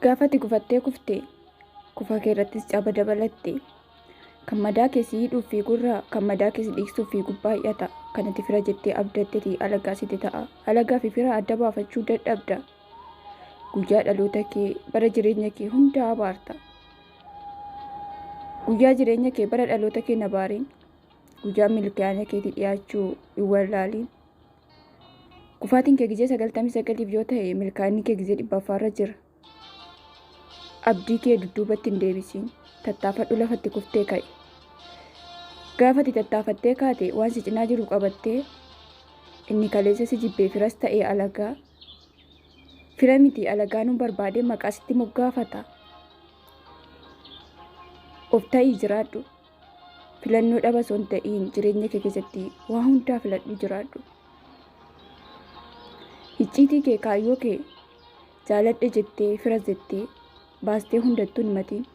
Gaafa ati gufattee kufte kufa kee irrattis caba dabalatte. Kan madaa kee si hidhuuf fiigurraa kan madaa kee si dhiigsuuf fiigu baay'ata. Kan ati fira jettee abdatteti alagaa siti ta'a. Alagaa fi fira adda baafachuu dadhabda. Guyyaa dhaloota kee bara jireenya kee hunda abaarta. Guyyaa jireenya kee bara dhaloota kee hin abaarin. guyyaa milkaa'ina keetii dhiyaachuu hin wallaaliin. Kufaatiin kee gizee sagaltamii sagaliif yoo ta'e milkaa'inni kee gizee dhibbaffaarra jira. Abdii kee dudduubatti hin deebisiin. Tattaafadhu lafatti kuftee ka'i. Gaafati tattaafattee kaate waan si cinaa jiru qabattee inni kaleessa si jibbee firas ta'ee alagaa. Fira miti alagaa nu barbaadee maqaa sitti moggaafata. Of ta'ii jiraadhu. filannoo dhaba osoo hin ta'iin jireenya kee keessatti waa hundaa filadhu jiraadhu. Icciitii kee kaayyoo kee jaaladhe jettee fira jettee baastee hundattuu hin matiin.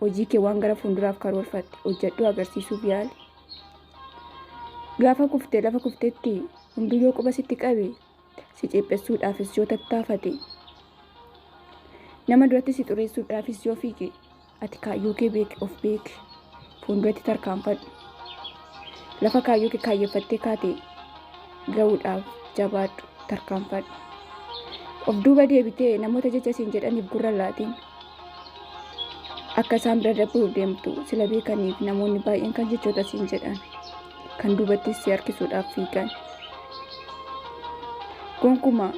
Hojii kee waan gara fuulduraaf karoorfatte hojjedhuu agarsiisuuf yaali. Gaafa kuftee lafa kuftetti hunduu yoo quba sitti qabe si ceephessuudhaafis yoo tattaafate nama duratti si xureessuudhaafis yoo fiige Ati kaayyoo kee beeki, of beeki. Fuulduratti tarkaanfadhu. Lafa kaayyoo kee kaayyeffattee kaate ga'uudhaaf jabaadhu, tarkaanfadhu. Of duuba deebitee namoota jecha siin jedhaniif gurra laatiin akka isaan bira darbuuf deemtu sila beekaniif namoonni baay'een kan jechoota siin jedhan kan duubattis si harkisuudhaaf fiigan. Gonkumaa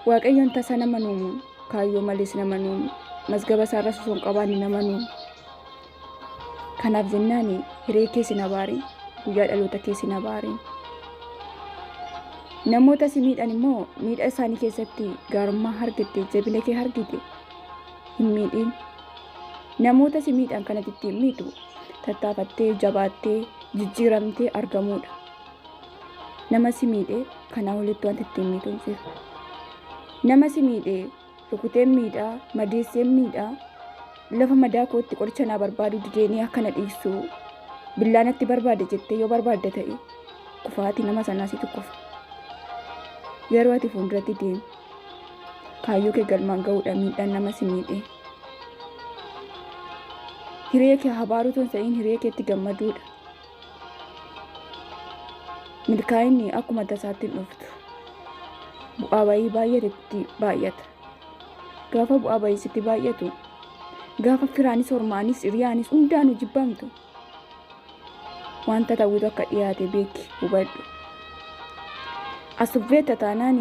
Waaqayyoon tasa nama nuumuun Kaayyoo malees nama nuun mazgaba isaa irras osoo hin qabaanne nama nuun. Kanaaf jennaan hiree kee sin abaare guyyaa dhaloota kee sin abaare. Namoota si miidhan immoo miidha isaanii keessatti gaarummaa argite jabina kee argite hin miidhin. Namoota si miidhan kanatti ittiin miidhu tattaafattee jabaattee jijjiiramtee argamuudha. nama si miidhee kanaa olitti wanti ittiin miidhuun jiru. Nama si miidhee rukuteen miidhaa madeesseen miidhaa lafa madaa kootti qoricha naa barbaadu dideenii akkana dhiisuu billaa natti barbaade jettee yoo barbaadda ta'e kufaatii nama sanaa situ kufa. Garuu ati fuulduratti deemi. Kaayyoo kee galmaan ga'uudha miidhaan nama si miidhee. Hiree kee habaaruu tun sa'iin hiree keetti gammaduudha. milkaa'inni akkuma tasaatti hin dhuftu. Bu'aa bayii baay'eetu itti baay'ata. Gaafa bu'aa bayii sitti baay'atu, gaafa firaanis, hormaanis, hiriyaanis hundaanuu jibbamtu. Wanta ta'utu akka dhiyaate beeki hubadhu. Asubbeetta taanaan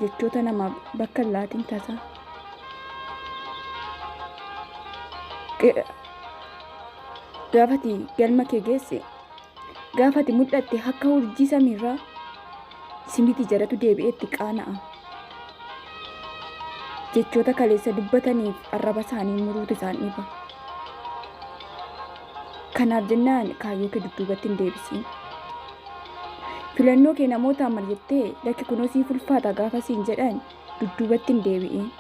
jechoota namaaf bakka hin laatin tasa. gaafati galma kee geesse gaafati mul'atte akka urjii samiirraa simiti jaratu deebi'eetti qaana'a jechoota kaleessa dubbataniif arraba isaanii muruutu isaan dhiiba kanaaf jennaan kaayyoo kee dudduubatti hin deebisiin filannoo kee namootaan marjattee lakki kunoo siif ulfaata gaafa siin jedhan dudduubatti hin deebi'in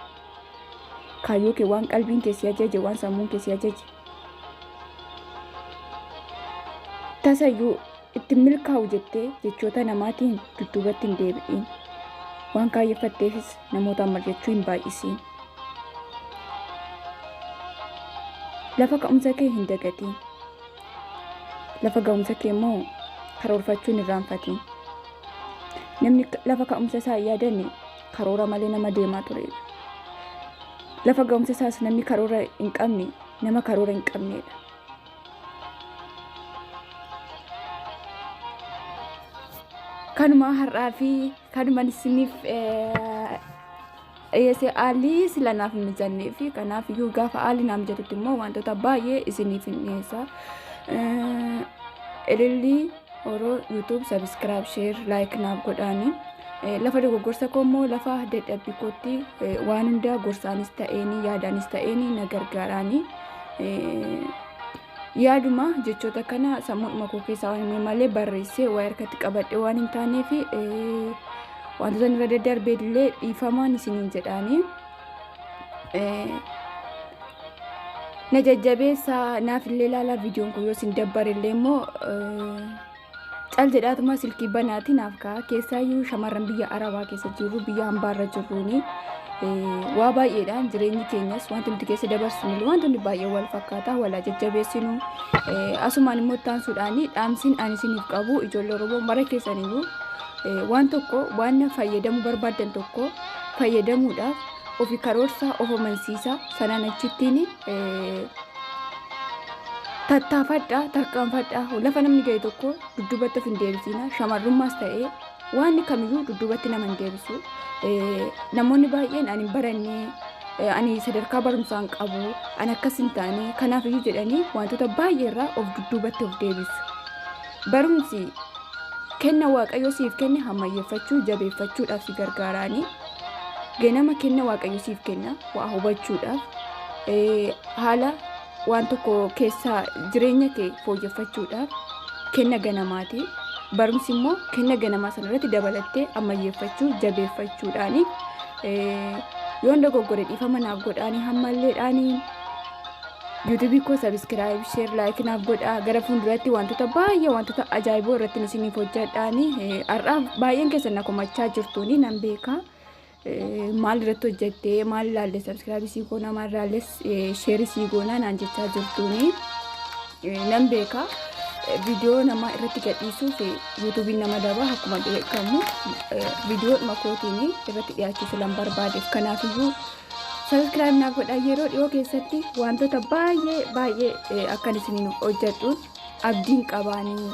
Kaayyoo kee waan qalbiin kee si ajaje, waan sammuun kee si ajaje. Tasayyuu itti milkaa'u jettee jechoota namaatiin dudduubatti hin deebi'in. Waan kaayyeffatteefis namootaan mari'achuu hin baay'isiin. Lafa ka'umsa kee hin dagatiin. Lafa ga'umsa kee immoo karoorfachuun irraanfatiin. Namni lafa ka'umsa isaa hin yaadanne karoora malee nama deemaa ture. Lafa ga'umsa isaas namni karoora hin qabne nama karoora hin qabneedha. Kanuma har'aa fi kanuma isiniif dhiyeessee haalli sila naaf hin mijannee fi kanaaf iyyuu gaafa haalli naaf mijatutti immoo wantoota baay'ee isiniif hin dhiyeessa. Ilillii Oro YouTube subscribe share like naaf godhaani. Eh, Lafa dogoggorsa koo immoo lafa dadhabbii kootti eh, waan hundaa gorsaanis ta'eeni yaadaanis ta'eeni na gargaaraani. Eh, Yaaduma jechoota kana sammuudhuma koo keessaa waan hin malee barreessee waa harkatti qabadhe waan hin taaneef eh, wantoota irra daddarbee illee dhiifamaan isiniin jedhaani. na jajjabeessa naaf illee laalaa viidiyoon kun yoo isin dabbare illee immoo cal jedhaatuma silkii banaati naaf ka'a keessaayyuu shamarran biyya arabaa keessa jirru biyya hambaarra jirruuni waa baay'eedhaan jireenyi keenyas wanti nuti keessa dabarsuun wantoonni baay'ee wal fakkaata walaa jajjabeessinu asumaan immoo taansuudhaan dhaamsiin ani isiniif qabu ijoollee oromoo mara keessaniyyuu waan tokko waan fayyadamuu barbaadan tokko fayyadamuudhaaf ofi karoorsaa of amansiisaa sanaan achittiin tattaafadhaa tarkaanfadhaa lafa namni ga'e tokko dudduubatti of hin deebisiina shamarrummaas ta'ee waan kamiyyuu dudduubatti nama hin deebisu namoonni baay'een ani hin barannee ani sadarkaa barumsaa hin qabu ani akkas hin taane kanaaf iyyuu jedhanii wantoota baay'ee irraa of dudduubatti of deebisu. Barumsi kenna Waaqayyo siif kenne hammayyeeffachuu, jabeeffachuudhaaf si gargaaraanii ganama kenna Waaqayyo siif kenna waa hubachuudhaaf eh, haala waan tokko keessaa jireenya kee fooyyeffachuudhaaf kenna ganamaati. Barumsi immoo kenna ganamaa sana irratti dabalattee ammayyeeffachuu, jabeeffachuudhaani eh, yoon dogoggore dhiifama naaf godhaanii hammalleedhaanii YouTube koo subscribe, share, like naaf godhaa. Gara fuulduratti wantoota baay'ee wantoota ajaa'iboo irratti isiniif hojjedhaani. Har'aa baay'een keessan na komachaa jirtuuni nan beeka. Maal irratti hojjettee maal ilaalle subscribe sii goona maal ilaalle share sii goona naan jechaa jirtuuni nan beeka. Viidiyoo nama irratti gadhiisuuf yuutuubiin nama daba akkuma beekamu viidiyoo dhuma kootiin irratti dhiyaachuu filan barbaadeef kanaafiyyuu Subscribe naaf godhaa yeroo dhiyoo keessatti wantoota baay'ee baay'ee akkan isiniin hojjedhuun abdiin qabaanii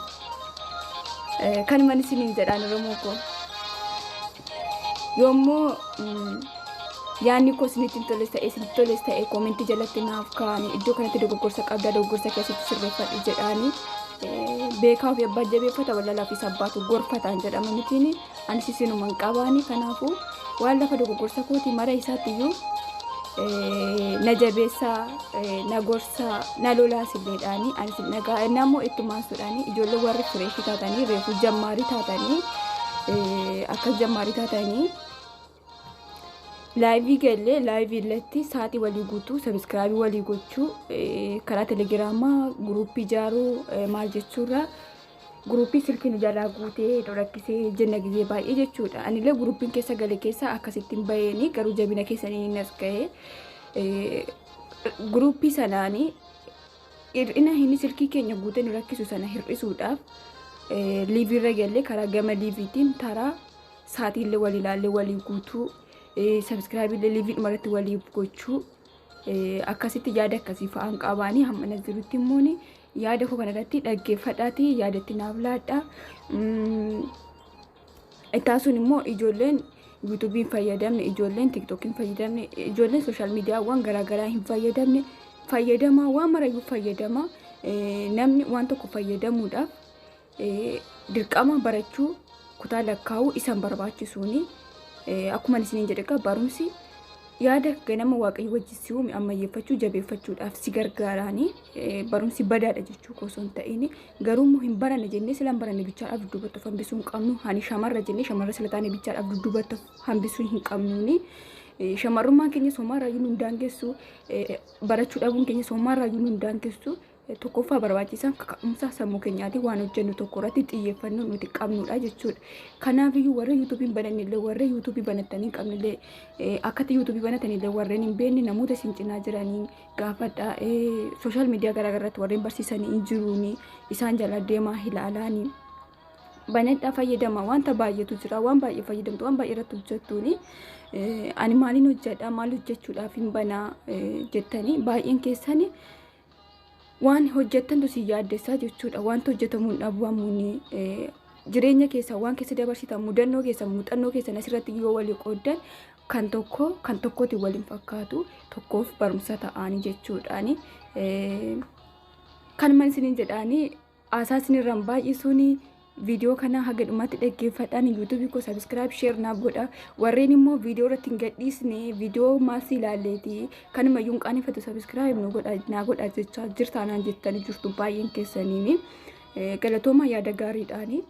kanuman isiniin jedhaan Oromoo koo. Yommuu yaanni koo isinitti hin toles ta'e isinitti toles ta'e koomentii jalatti naaf kaa'anii iddoo kanatti dogoggorsa qabda dogoggorsa keessatti sirreeffadhu jedhaanii beekaa ofii abbaa jabeeffata wallalaa fi sabbaatu gorfataan jedhama mitiin anis isinuma hin qabaani kanaafuu waan lafa dogoggorsa kooti mara isaatti iyyuu eh, na jabeessaa eh, na gorsaa na lolaas illeedhaani anis hin dhagaa inni ammoo itti maansuudhaani ijoollee warri fireeshii taatanii reefu jammaarii taatanii eh, akkas jammaarii taatanii Laayivii gallee laayivii irratti saatii walii guutuu sabiskiraabii walii gochuu eh, karaa telegiraamaa guruuppii ijaaruu eh, maal jechuurraa guruuppii silkiin ijaarraa guutee nu rakkisee jenna gizee baay'ee jechuudha. Anillee guruuppiin keessa gale keessa akkasittiin baheeni garuu jabina keessanii hin as ga'ee eh, guruuppii sanaanii hir'ina inni silkii keenya guutee nu rakkisu sana hir'isuudhaaf eh, liiviirra gallee karaa gama liiviitiin taraa Saatiillee walii ilaallee walii guutuu sabiskiraayibiillee liiviidhuma irratti walii gochuu akkasitti yaada akkasii fa'aan qabaanii hammana jirutti immoo yaada koo kanarratti dhaggeeffadhaati yaadatti naaf laadha. Ittaasuun immoo ijoolleen yuutuubiin fayyadamne ijoolleen tiktookiin fayyadamne ijoolleen sooshaal miidiyaawwan garaagaraa hin fayyadamne fayyadamaa waan marayyuu fayyadamaa namni waan tokko fayyadamuudhaaf dirqama barachuu kutaa lakkaa'uu isan barbaachisuuni akkuma isiniin jedhe egaa barumsi yaada ganama waaqayyo wajjin si uume ammayyeeffachuu jabeeffachuudhaaf si gargaaraani barumsi badaadha jechuu osoo hin ta'in garuu immoo hin baranne jennee sila hin baranne bichaadhaaf dudduubattuuf hambisuu hin qabnu ani shamarra jennee shamarra sila taane bichaadhaaf dudduubattuuf hambisuu hin qabnuuni shamarrummaan keenya soomaarraa iyyuu nu hin daangessu barachuu dhabuun keenya soomaarraa iyyuu nu hin daangessu tokkoffaa barbaachisaan kaka'umsaa sammuu keenyaatiin waan hojjennu tokko irratti xiyyeeffannoo nuti qabnudha jechuudha. Kanaaf iyyuu warra yuutuubiin banan illee warra yuutuubii banatanii qabne illee akkatti yuutuubii banatan illee warreen hin beekne namoota isin cinaa jiranii gaafadha. Sooshaal miidiyaa garaagaraatti warreen barsiisanii hin jiruuni isaan jala deemaa ilaalaanii. banadhaa fayyadama wanta baay'eetu jira waan baay'ee fayyadamtu waan baay'ee irratti hojjettuuni ani maaliin hojjedha maal hojjechuudhaaf hin banaa jettanii baay'een keessani waan hojjettantu si yaaddessaa jechuudha. Wanti hojjetamu hin dhabamu. Jireenya keessan waan keessa dabarsitan mudannoo keessan muuxannoo keessan asirratti yoo walii qooddan kan tokko kan tokkotti waliin fakkaatu tokkoof barumsa ta'anii jechuudhaani. Kan man isiniin jedhaanii Haasaa isinirraan baay'isuun viidiyoo kana haga dhumaatti dhaggeeffadhaan yuutuubii koo sabiskiraayib sheer naaf godha warreen immoo viidiyoo irratti hin gadhiisne viidiyoo maasii ilaalleeti kanuma yuun qaaneffatu sabiskiraayib nu godha naa godha jechaa jirtaanaan jettanii jirtu baay'een keessaniin galatooma yaada gaariidhaani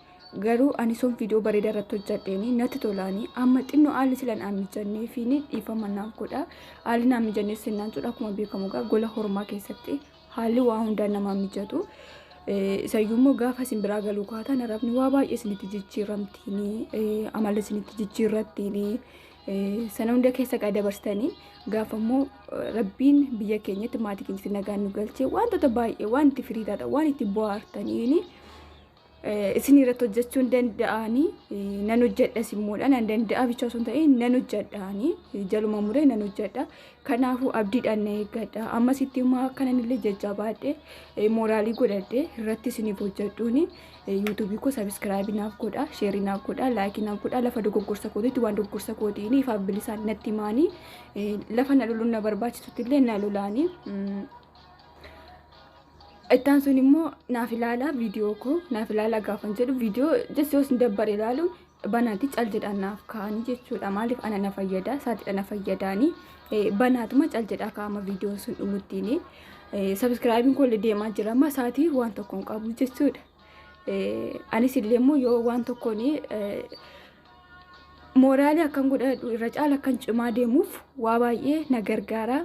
garuu ani sun viidiyoo bareedaa irratti hojjadheeni natti tolaani amma xinnoo haalli silan aan mijannee fi dhiifama naaf godha haalli naan mijannee sennaan jedhu akkuma beekamu egaa gola hormaa keessatti Haalli waa hundaan namaa mijatu. Isayyuu immoo gaafa isin biraa galuu kaatan arabni waa baay'ee isinitti jijjiiramtiini amala isinitti jijjiirrattiini sana hunda keessa qaa dabarsitanii gaafa immoo rabbiin biyya keenyatti maatii keenyatti nagaan nu galchee wantoota baay'ee waan itti firii taatan waan itti bu'aartaniini isin irratti hojjechuun danda'anii nan hojjedhas immoodha nan danda'a bicha osoo hin ta'in nan hojjedhaanii jaluma muree nan hojjedha kanaafuu abdiidhaan na eeggadha ammas itti immoo akkanan illee jajjabaadhe mooraalii godhadhe irratti isiniif hojjedhuuni yuutuubii koo sabiskiraabii naaf godha sheerii naaf godha laayikii naaf godha lafa dogoggorsa kootiitti waan dogoggorsa kootiin ifaaf bilisaan natti himaanii lafa na loluun na barbaachisutti illee na lolaanii. Ittaan sun immoo naaf ilaalaa viidiyoo koo naaf ilaalaa gaafan jedhu viidiyoo jessi yoo isin dabbare ilaalu banaati cal jedhaan naaf kaa'anii jechuudha maaliif ana na fayyada saaxiidha na fayyadaanii banaatuma cal jedhaa kaa'ama viidiyoo sun dhumuttiin sabiskiraayibiin koo illee deemaa jira amma saatii waan tokko hin qabu jechuudha anis illee immoo yoo waan tokkoon mooraalii akkan godhadhu irra caala akkan cimaa deemuuf waa baay'ee na gargaara.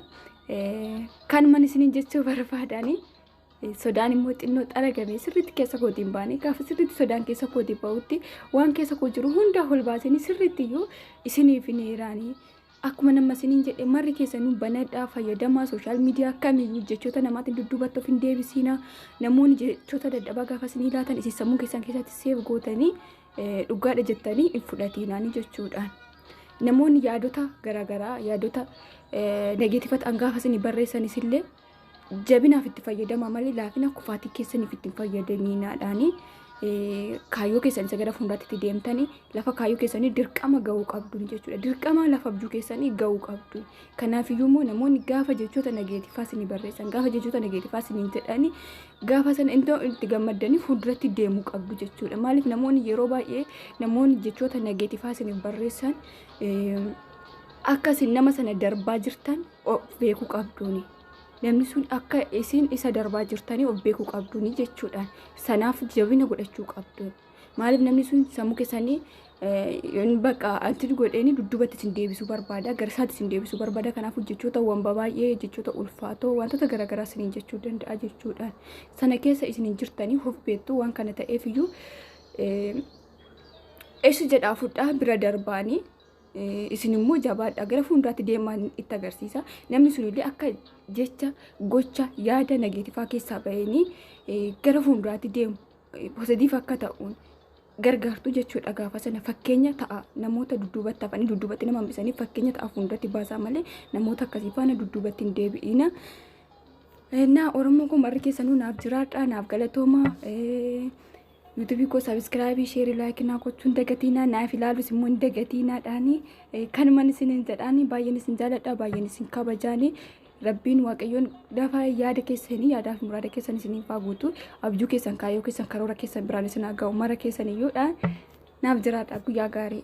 Kanuman isiniin jechuu barbaadani. Sodaan immoo xinnoo xaragamee sirriitti keessa kootiin baane gaafa sirriitti sodaan keessa kootiin ba'utti waan keessa koo jiru hundaa ol baasanii sirriitti iyyuu isiniif hin heeraanii. Akkuma nama isiniin jedhe marri keessanuu banadhaa fayyadamaa sooshaal miidiyaa kamiyyuu jechoota namaatiin dudduubatti of hin deebisiina. Namoonni jechoota dadhabaa gaafa isinii laatan isin sammuu keessan keessatti seef gootanii dhugaadha jettanii hin fudhatiinaanii jechuudhaan namoonni yaadota garaagaraa yaadota negeetifata hangaafa isin barreessanis illee jabinaaf itti fayyadama malee laafina kufaatii keessaniif itti hin fayyadamiinaadhaanii kaayyoo keessan isa gara fuulduraatti itti deemtanii lafa kaayyoo keessanii dirqama ga'uu qabdu jechuudha. Dirqama lafa abjuu keessanii ga'uu qabdu. Kanaafiyyuu immoo namoonni gaafa jechoota nageetifaa isinii barreessan, gaafa jechoota nageetifaa isiniin jedhani, gaafa sana iddoo itti gammaddaniif fuulduratti deemuu qabdu jechuudha. Maaliif namoonni yeroo baay'ee namoonni jechoota nageetifaa isiniif barreessan eh, akka isin nama sana darbaa jirtan of beekuu qabduuni. Namni sun akka isin isa darbaa jirtanii of beekuu qabduuni jechuudha. Sanaaf jabina godhachuu qabdu. Maaliif namni sun sammuu keessanii yoon bakka antin godheeni dudduubatti isin deebisuu barbaada garsaatti isin deebisuu barbaada kanaafuu jechoota wanba baay'ee jechoota ulfaatoo wantoota garaagaraa isiniin jechuu danda'a jechuudhaan sana keessa isiniin jirtanii of beektu waan kana ta'eef iyyuu eessi jedhaa fudhaa bira darbaanii isin immoo jabaadha gara fuulduraatti deemaan itti agarsiisa namni sun illee akka jecha gocha yaada nageetifaa keessaa bahanii gara fuulduraatti deemu positiif akka ta'uun gargaartu jechuudha gaafa sana fakkeenya ta'a namoota dudduubatti hafanii dudduubatti nama hambisanii fakkeenya ta'a fuulduratti baasaa malee namoota akkasii faana dudduubatti hin deebi'ina. Naa Oromoo koo marri keessanuu naaf jiraadha naaf galatooma. Yuutuubii koo sabiskiraabii sheerii laayikii naa gochuun dagatiinaa naaf ilaalus immoo hin dagatiinaadhaani kanuman isin hin jedhaani baay'een isin jaaladha baay'een isin kabajaani Rabbiin waaqayyoon lafa yaada keessanii yaadaaf muraada keessan isiniif haa guutu abjuu keessan kaayyoo keessan karoora keessan biraan isin haa ga'u mara keessan iyyuudha naaf jiraadha guyyaa gaarii.